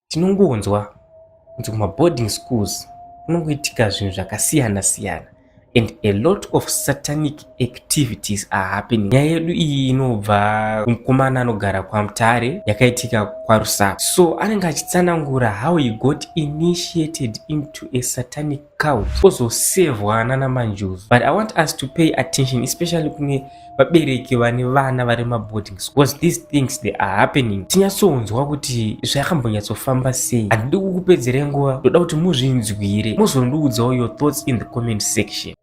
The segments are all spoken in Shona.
tinongonzwa kunzi kumaboarding schools kunongoitika zvinhu zvakasiyana siyana and a lot of satanic activities are happening nyaya yedu iyi inobva kumukomana anogara kwamutare yakaitika kwarusaku so anenge achitsanangura how he got initiated into a satanic cows ozosevwa nana manjuzu but i want us to pay attention especially kune vabereki vane vana vari maboarding because these things they are happening tinyatsonzwa kuti zvakambonyatsofamba sei handidi kukupedzere nguva ndoda kuti muzvinzwire mozondiudzawo your thoughts in the comment section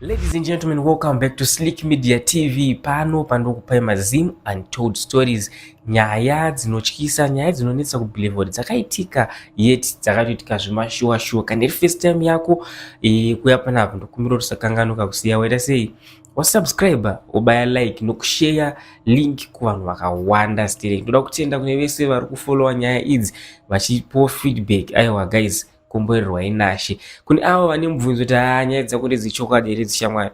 Ladies and gentlemen, welcome back to Slick Media TV. Pano pandokupai mazim untold stories, nyaya dzinotyisa, nyaya dzinonetsa kubelieve dzakaitika yet dzakatoitika zvemashuwa shuwa. Kana iri first time yako e, kuya pana apo ndokumbira kuti usakanganuka kusiya waita sei wasubscribe wobaya like nokushare link kuvanhu vakawanda stereki. Ndoda kutenda kune vese vari kufollowa nyaya idzi vachipo feedback. Aiwa guys Komborerwa inashe. Kune avo vane mubvunzo kuti haa nyaya dzakuti dzichokwadi here dzishamwari.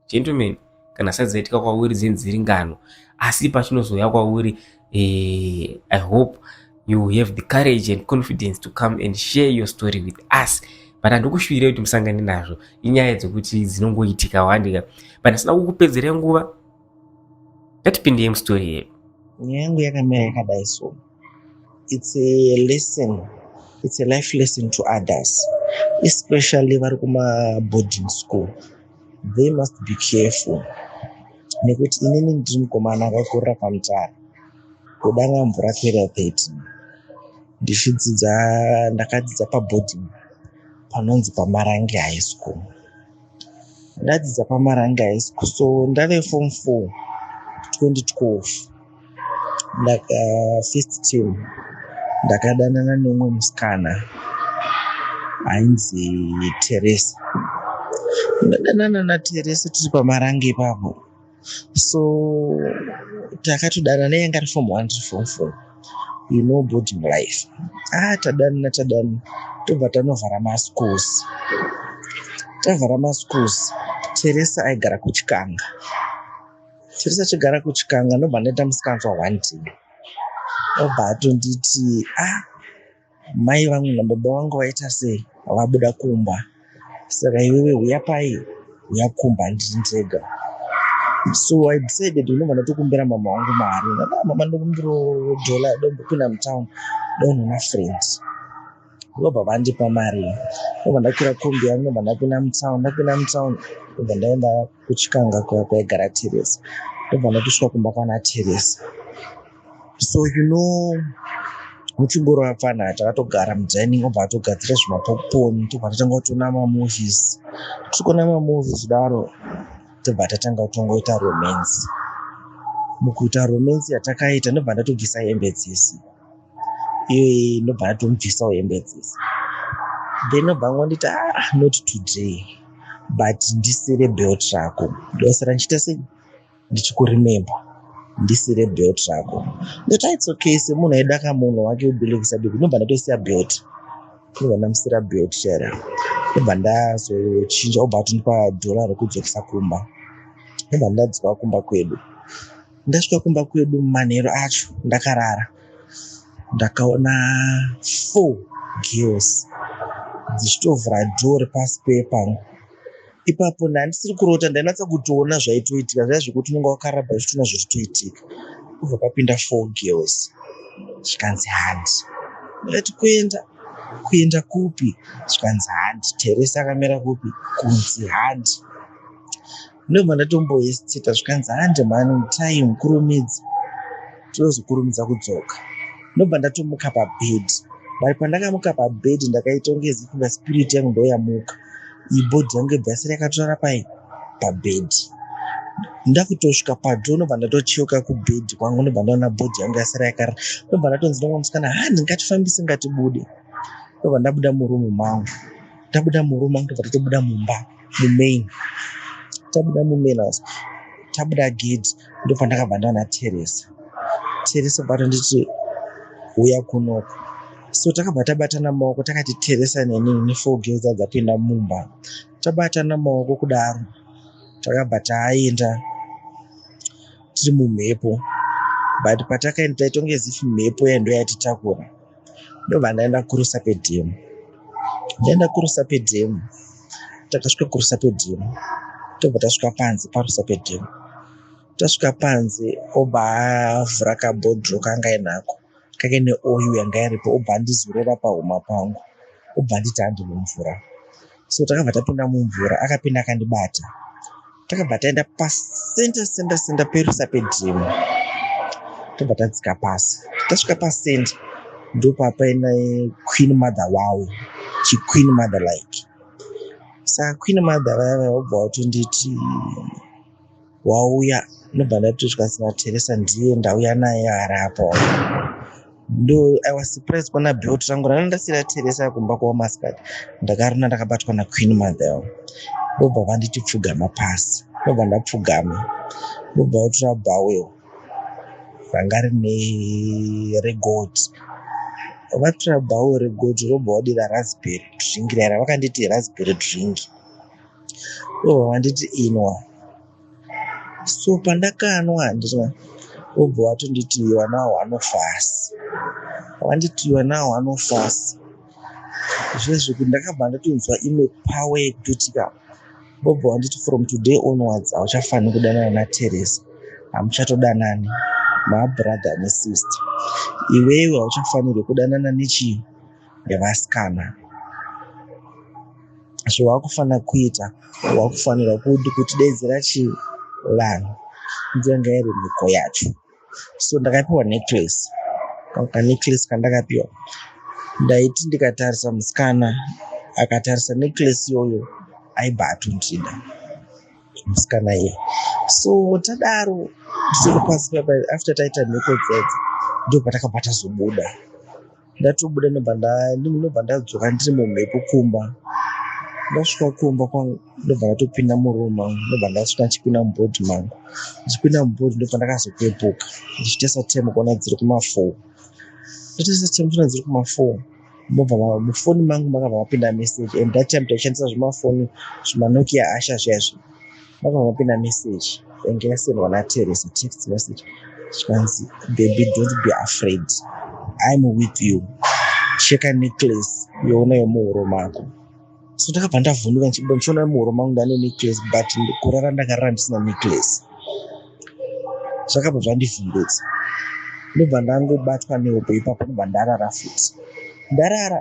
Gentlemen, kana sati dzaitika kwauri dzini dziri ngano. Asi pachinozoya kwauri, eh, I hope you have the courage and confidence to come and share your story with us but handikushuvire kuti musangane nazvo inyaya dzekuti dzinongoitika wandika but ndisina kukupedzere nguva ngatipindei mustori yedu nyaya yangu yakamira yakadai so It's a lesson. It's a life lesson to others, especially vari kuma boarding school. They must be careful nekuti inini ndiri mukomana akakurira kamutara kudanga mvura kera 30 ndichidzidza ndakadzidza paboarding panonzi pamarange high school ndadzidza pamarange high school so ndave form 4 2012 ndaka first two ndakadanana neumwe musikana ainzi teresa ndadanana nateresa tiri pamarange ipapo so takatodanana yanga ari form one tiri form four you know boarding life ah tadanana tadanana tobva tanovhara maschools tavhara maschools teresa aigara kuchikanga Chiri sachigara kuchikanga ndobva ndaita musikanzwa one day obva atonditi ah mai vangu nababa vangu vaita sei vabuda kumba saka iwewe huya pai huya kumba ndiri ndega so i decided unobva ndatokumbira mama wangu mari ah, mama ndokumbiro dollar dombopinda mutown donoona friends ndobva vandipa mari ndobva ndakwira kombi yangu ndobva ndapinda mutown ndapinda mutown ndobva ndaenda kuchikanga kuya kwaigara teresa ndobva ndakusvika kumba kwana teresa so you know muchingoro apfana takatogara mudining obva atogadzira zvimapopcorn tobva tatanga kutona mamovies tikona mamovies kudaro tobva tatanga kutongoita romance mukuita romance yatakaita ndobva ndatobvisa hembe dzese iyoyi ndobva ndatomubvisawo hembe dzese then obva angonditi ah not today but ndisire belt rako ndosara ndichiita sei ndichikurememba ndisire belt rako ndoti ah, its okay semunhu aida kamunhu wake ubelekisa biko ndobva ndatosiya belt ndobva ndamusira belt chara ndobva ndazochinja obva atondipa dhora rekudzokisa kumba ndobva ndadzoka kumba kwedu Ndasvika kumba kwedu manheru acho ndakarara ndakaona four girls dzichitovhura dhoo repasi pepangu ipapo ndandisiri kurota ndainatsa kutoona zvaitoitika zvaya zvekuti unonga wakaraba uchitoona zviritoitika kubva papinda four girls zvikanzi handi ndati kuenda kuenda kupi zvikanzi handi teresa akamera kupi kunzi handi Ndobva ndatombohesitita zvikanzi hande mhani mutai mukurumidze tinozokurumidza kudzoka. Ndobva ndatomuka pabhedhi but pandakamuka pabhedhi ndakaita kunge zifunga spirit yangu ndoyamuka iyi bhodhi yangu yobva yasara yakatorara pai pabhedhi ndakutosvika padho ndobva ndatocheuka kubhedhi kwangu ndobva ndaona bhodhi yangu yasara yakarara ndobva ndatonzi nomwe musikana hani ngatifambise ngatibude ndobva ndabuda murumu mangu ndabuda murumu mangu ndobva ndatobuda mumba mumain tabuda mumain house tabuda gate ndopandakabva ndaona teresa teresa bata nditi huya kunoko so takabva tabatana maoko takati teresa neni nefour girls adzapinda mumba tabatana maoko kudaro takabva taenda tiri mumhepo but patakaenda taitonge zifi mhepo yaindo yatitakura ndobva ndaenda kurusa pedhemu ndaenda kurusa pedhemu takasvika kurusa pedhemu tobva tasvika panze parusa pedhemu tasvika panze obva avhura kabhodro kanga inako kake neoyu yanga iripo obva andizorera pahuma pangu obva anditi andimumvura so takabva tapinda mumvura akapinda akandibata takabva taenda pasenta senta senta perusa pedhimu tobva tadzika pasi tasvika pasenta ndopapaina queen mother wawo chiqueen mother like saka queen mother vaya vaya vobva vatonditi wauya ndobva ndati zvikanzi nateresa ndiye ndauya naye ari apa ndo i was surprised kuona belt rangu ranga ndasira teresa kumba kwamaskati ndakarina ndakabatwa naqueen mother ndobva vanditi pfugama pasi ndobva ndapfugama ndobva otora bowel ranga rine regold vatora bowel regold robva wadira raspberry drink raira vakanditi raspberry drink oh anditi inwa so pandakanwa ndinwa obva watonditi iwa nawo anofasi wanditi iwa nawo anofasi zvezvekuti ndakabva ndatonzwa imwe power yekuti ka obva wanditi from today onwards hauchafaniri kudanana nateresa hamuchatodanani mabrother nesister iwewe hauchafanirwe kudanana nechii nevasikana zvawakufanira kuita wakufanirwa kuti kutidedzera chii vanhu ndiyanga iri mhiko yacho so ndakapiwa necklace kanecklace kandakapiwa ndaiti ndikatarisa musikana akatarisa necklace iyoyo aibva atondida musikana iye so tadaro tisiri pasi papa after taita mhiko dzedza ndobva takabva tazobuda ndatobuda ndobva nda- ndim- ndobva ndadzoka ndiri mumhepo kumba ndasvika kumba kwangu ndobva ndatopinda muroom mangu ndobva ndasvika ndichipinda mubhodhi mangu ndichipinda mubhodhi ndobva ndakazopepuka ndichitesa temu kuona dziri kumafoo ndotesa temu kuona dziri kumafoo mobva ma- mufoni mangu makabva mapinda message and that time taishandisa zvimafoni zvimanokia asha zviya zviya Vakangopinda message yange yasendwa naTeresa text message zvikanzi baby don't be afraid I'm with you cheka necklace yoona yomuhuro mako so ndakabva ndavhunduka ndichibuda ndichiona muhuro mangu ndane necklace but kurara ndakarara ndisina necklace zvakabva zvandivhundutsa ndobva ndangobatwa nehope ipapo ndobva ndarara futi ndarara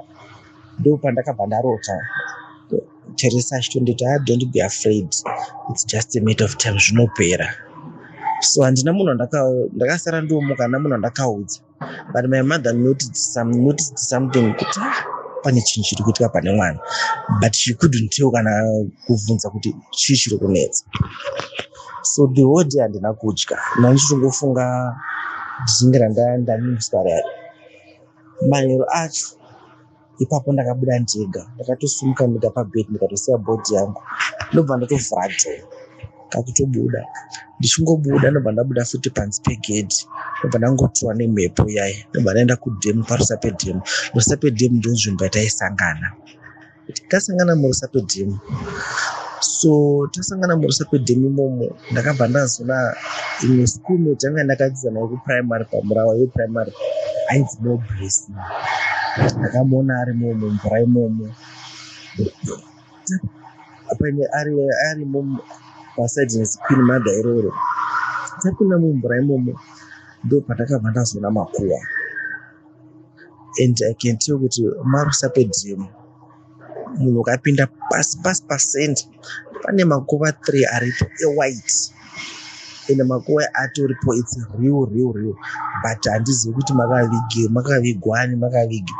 ndopandakabva ndarota Teresa achitonditi ah, don't be afraid it's just a matter of time zvinopera so handina munhu ndakasara ndiomuka handina munhu andakaudza but my mother noticed, some, noticed something kuti ah, pane chinhu chiri kuitika pane mwana but she couldn't tell kana kubvunza kuti chii chiri kunetsa so the whole day handina kudya nandichitongofunga zvinge randandamiswara manhero acho ipapo ndakabuda ndega ndakatosimuka ndega pabed ndikatosiya bhodhi yangu ndobva ndatovhura dhoo kakutobuda ndichingobuda ndobva ndabuda futi panzi pegedhi ndobva ndangotiwa nemhepo yayi ndobva ndaenda kudhemu parusa pedhemu rusa pedhemu ndonzvimbo yataisangana tasangana murusa pedhemu so tasangana murusa pedhemu imomo ndakabva ndazoona imwe schoolmate yanga ndakadzidzana yekuprimary pamurawa yeprimary ainzi nobress ndakamuona ari momo mvura imomo apane ari ari momo pasaidi rezikwini madha iroro tapinda mumvura imomo ndo pandakabva ndazoona makuwa and i can tell kuti marusa pedhemu munhu ukapinda pasi pasi pacenter pane makuva three aripo ewhite ende makuva atoripo its real real real but handizivi kuti makavige makavigwani makavige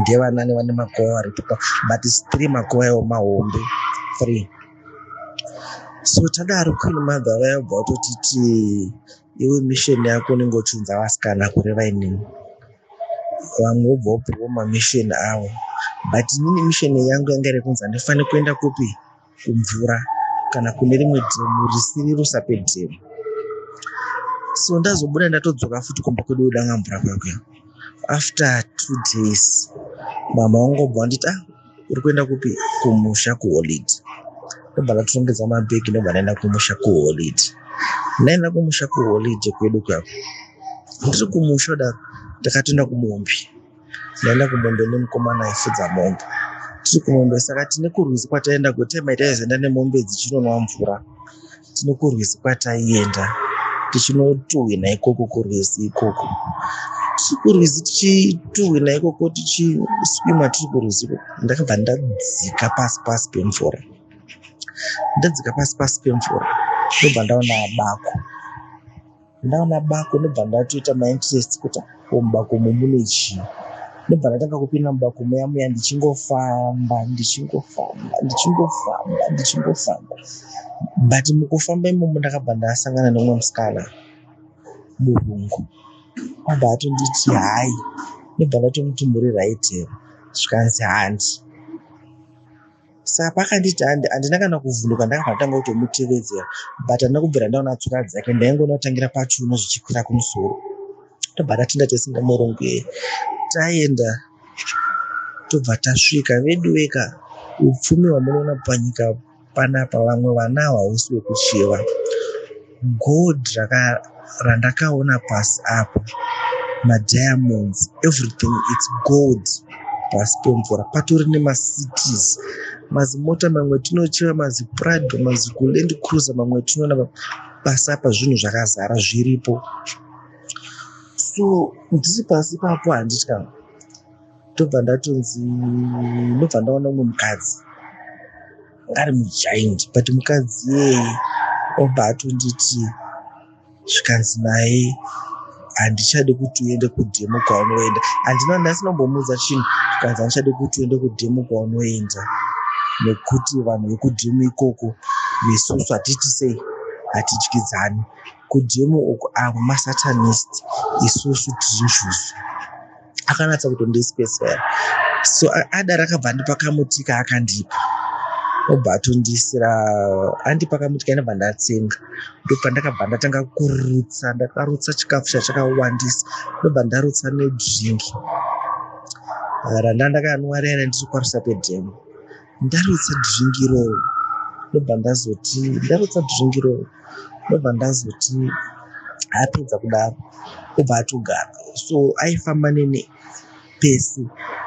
ndevanani vane makuva aripo but its three makuva ewo mahombe three so tadaro queen mother vayabva vatotiti iwe mission yako unenge uchiunza vasikana kureva inini vamwe wobva wopiwa mamission avo but inini mission yangu yanga iri kunzi handifane kuenda kupi kumvura kana kune rimwe dhemu risiri rusape dhemu so ndazobuda ndatodzoka futi kumba kwedu kudanga mvura kwakwe after two days mama wangobva wanditi ah uri kuenda kupi kumusha kuholidi ndobva ndatotongedza mabhegi ndobva ndaenda kumusha kuholidi ndaenda kumusha kuholidi kwedu kwako ndiri kumusha daro ndakatoenda kumombe ndaenda kumombe nemukomana aifudza mombe tiri kumombe saka tine kurwizi kwataenda kutema taizoenda nemombe dzichinonwa mvura tine kurwizi kwataienda tichinotuhwina ikoko kurwizi ikoko tichikurwizi tichituhwina ikoko tichiswima tiri kurwizi ikoko ndakabva ndadzika pasi pasi pemvura ndadzika pasi pasi pemvura ndobva ndaona bako ndaona bako ndobva ndatoita mainterest kuti mubako umu mune chii ndobva ndatanga kupinda mubako muya muya ndichingofamba ndichingofamba ndichingofamba ndichingofamba but mukufamba imomo ndakabva ndasangana neumwe musikana murungu abva atonditi hayi ndobva ndatomuti muri right here zvikanzi handi Saka paakanditi handi, handina kana kuvhunduka ndakabva ndatanga kutomutevedzera but handina kubvira ndaona tsoka dzake ndaingoona kutangira pachiuno zvichikwira kumusoro. Tobva tatinda tese nemurungu taenda tobva tasvika veduweka upfumi hwamunoona panyika panapa vamwe vana hwausi wekuchiva. Gold randakaona pasi apa ma diamonds everything it's gold pasi pemvura patori nema cities mazimota mamwe tinochera maziprado mazikuland cruiser mamwe tinoona pasi apa zvinhu zvakazara zviripo so ndiri pasi papo handitya ndobva ndatonzi ndobva ndaona umwe mukadzi ngari mugiant but mukadzi iyeye obva atonditi zvikanzi naye handichadi kuti uende kudemo kwaunoenda handina nhasi nombomuudza chinhu zvikanzi handichadi kuti uende kudemo kwaunoenda nekuti vanhu vekudemo ikoko vesusu hatiti sei hatidyidzani kudemo uku avo masatanist isusu tiri njuzu akanatsa kutondispesifera so ada rakabva andipa kamuti kaakandipa obva atondisira andipa kamuti kainabva ndatsenga ndopandakabva ndatanga kurutsa ndakarutsa chikafu chachakawandisa ndobva ndarutsa nedringi randa ndakanwa riya randiri kwarusa pedhemo ndarutsa dzvingiro ndobva ndazoti ndarutsa dzvingiro ndobva ndazoti apedza kudaro obva atogara so aifamba nene pese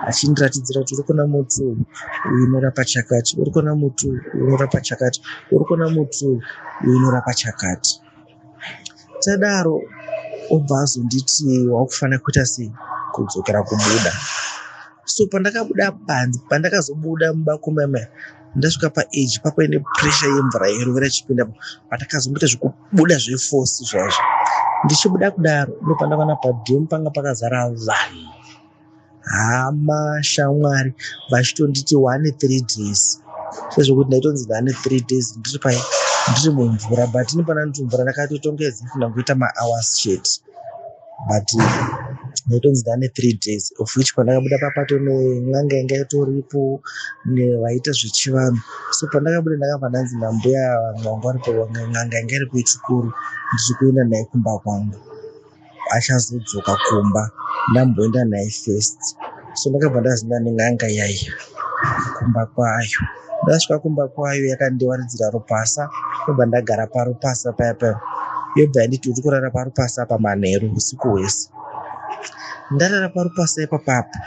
achindiratidzira kuti uri kuona muti uyu uyu unorapa chakati uri kuona muti uyu unorapa chakati uri kuona muti uyu uyu unorapa chakati tadaro obva azonditi wakufanira kuita sei kudzokera kubuda so pandakabuda panzi pandakazobuda muba kumeme ndasvika paage papaine pressure yemvura yerovera chipinda patakazomboita zvekubuda zvefosi zvaizvo ndichibuda kudaro ndopandakaona padhemu panga pakazara vanhu hama shamwari vachitonditi one three days sezvokuti ndaitonzi ndane three days ndiri pai ndiri mumvura but ini pana ndiri mumvura ndakatotongedza funa kuita mahours chet but ndaitonzi ndane three days of which pandakabuda papato nen'anga yanga itoripo vaiita zvechivanhu so pandakabuda ndakabva ndanzi nambuya vamwe vanga varipo n'anga yanga iri kuichikuru ndichikuenda naye kumba kwangu achazodzoka kumba ndamboenda naye first so ndakabva ndazinda nen'anga yaiya kumba kwayo ndasvika kumba kwayo yakandiwaridzira rupasa ndobva ndagara parupasa paya paya yobva yanditi uri kurara parupasa pa manheru usiku hwese ndarara parupasa ipapapa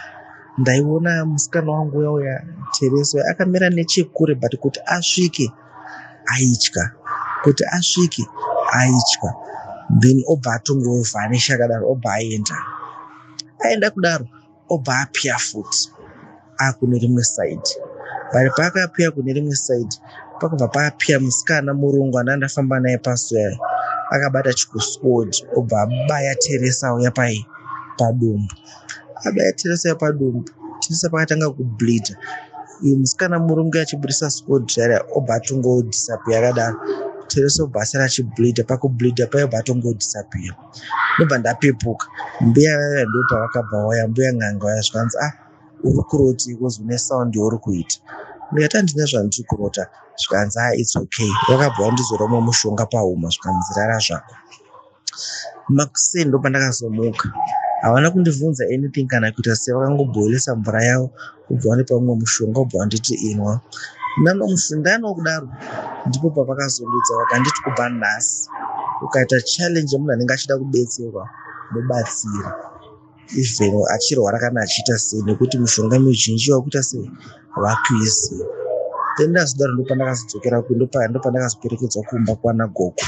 ndaiona musikana wangu uya uya tereso akamira nechekure but kuti asvike aitya kuti asvike aitya then obva atongovhanisha akadaro obva aenda aenda kudaro obva apya futi akune rimwe side but paakapya kune rimwe side pakubva papya musikana murungu anda ndafamba naye pasuya akabata chikuswod obva abaya teresa uya pai padumbu abaya Teresa padumbu Teresa pakatanga kubleeda uyu musikana murungu achibudisa skodhara obva atongodhisapiya akadaro Teresa obva asara achibleeda pakubleeda paye obva atongodhisapiya ndobva ndapepuka mbuya vaya ndopavakabva waya mbuya n'anga vaya zvikanzi ah uri kuroti kozi une sound yauri kuita ndikati handina zvandiri kurota zvikanzi ah its okay vakabva vandizora umwe mushonga pahuma zvikanzi rara zvako Makuseni ndopandakazomuka havana kundivhunza anything kana kuita se vakangoboilisa mvura yavo vobva vandipa umwe mushonga vobva vanditi inwa ndanomusundano kudaro ndipo pavakazondudza vakanditi kubva nhasi ukaita challenge yemunhu anenge achida kubetserwa mubatsira even achirwara kana achiita sei nekuti mushonga mizhinji vakuita sei vakuiziva then ndazodaro ndopandakazodzokera kundo pandakazopferekedzwa kumba kwana gogo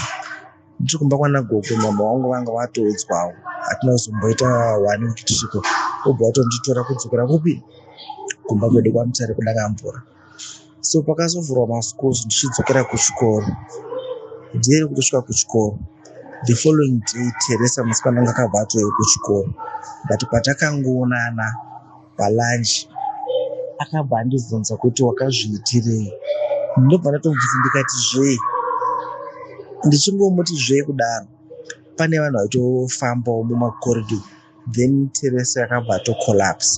Ndiri kumba kwana gogo mama wangu vanga vatoudzwawo hatina kuzomboita wani kuti tisviko obva watonditora kudzokera kupi kumba kwedu kwamutsare kudaka mvura so pakazovhurwa maschools ndichidzokera kuchikoro ndiye kutosvika kuchikoro the following day teresa musikana anga akabva atoyo kuchikoro but patakangoonana palunch akabva andibvunza kuti wakazviitirei ndobva ndatomubvunza ndikati zvee ndichingomuti zvee kudaro pane vanhu vaitofambawo mumacorridor then teresa yakabva atocollapse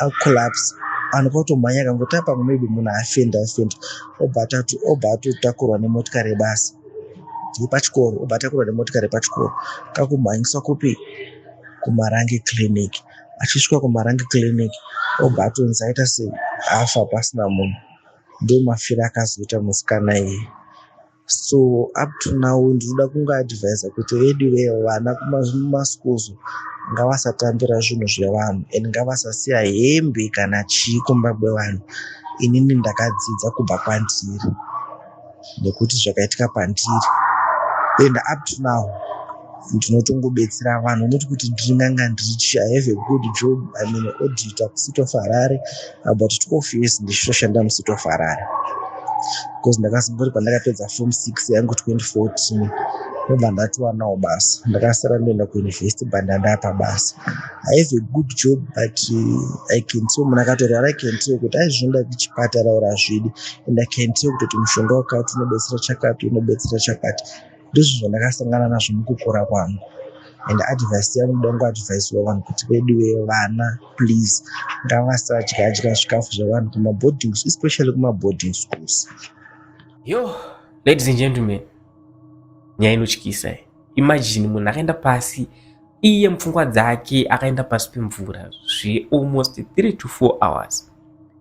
acollapse vanhu kwautomhanya kangoti apa maybe munhu afenda afenda obva atatu obva atotakurwa nemotikari yebasa yepachikoro obva atakurwa nemotikari yepachikoro kakumhanyiswa kupi kumarange clinic achisvika kumarange clinic obva atonzi aita sei afa pasina munhu ndomafira akazoita musikana iyi so up to now ndinoda kunga advisa kuti veduve vana kumaschools ngavasatambira zvinhu zvevanhu and ngavasasiya hembe kana chii kumba kwevanhu inini ndakadzidza kubva kwandiri nekuti zvakaitika pandiri and up to now ndinotongobetsera vanhu not kuti ndiri n'anga ndiri chi i have a good job im an auditor kucity of harare about 12 years ndichitoshanda mucity of harare because ndakazongori pandakapedza form six yangu 2014 ndobva ndatiwanawo basa ndakasara ndoenda kuuniversity but ndandapa basa i have a good job but uh, i can tell munhu akatorwara i can tell kuti aizvinoda kuchipatara or azvidi and I can tell kuti mushonga wakati unobetsera chakati unobetsera chakati ndizvo zvandakasangana nazvo mukukura kwangu and advice yangu dangu advice wavanhu kuti vedu vevana please ngavasadya dya zvikafu zvevanhu kumaboarding especially kumaboarding schools yo ladies and gentlemen nyaya inotyisa imagine munhu akaenda pasi iye mupfungwa dzake akaenda pasi pemvura zvealmost 3 to 4 hours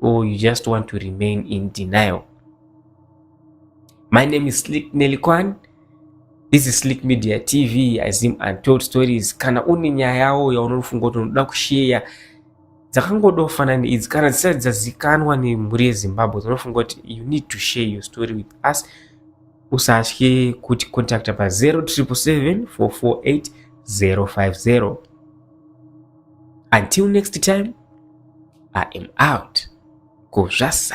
or you just want to remain in denial my name is slick nelikwan this is slick media tv azim untold stories kana une nyaya yawo yaunofunga kuti unoda kusheya dzakangodofanana neidzi kana dzisati dzazikanwa nemhuri yezimbabwe dzinofunga kuti you need to share your story with us usatye kuti contacta pa 077 until next time I am out. Go Jassa.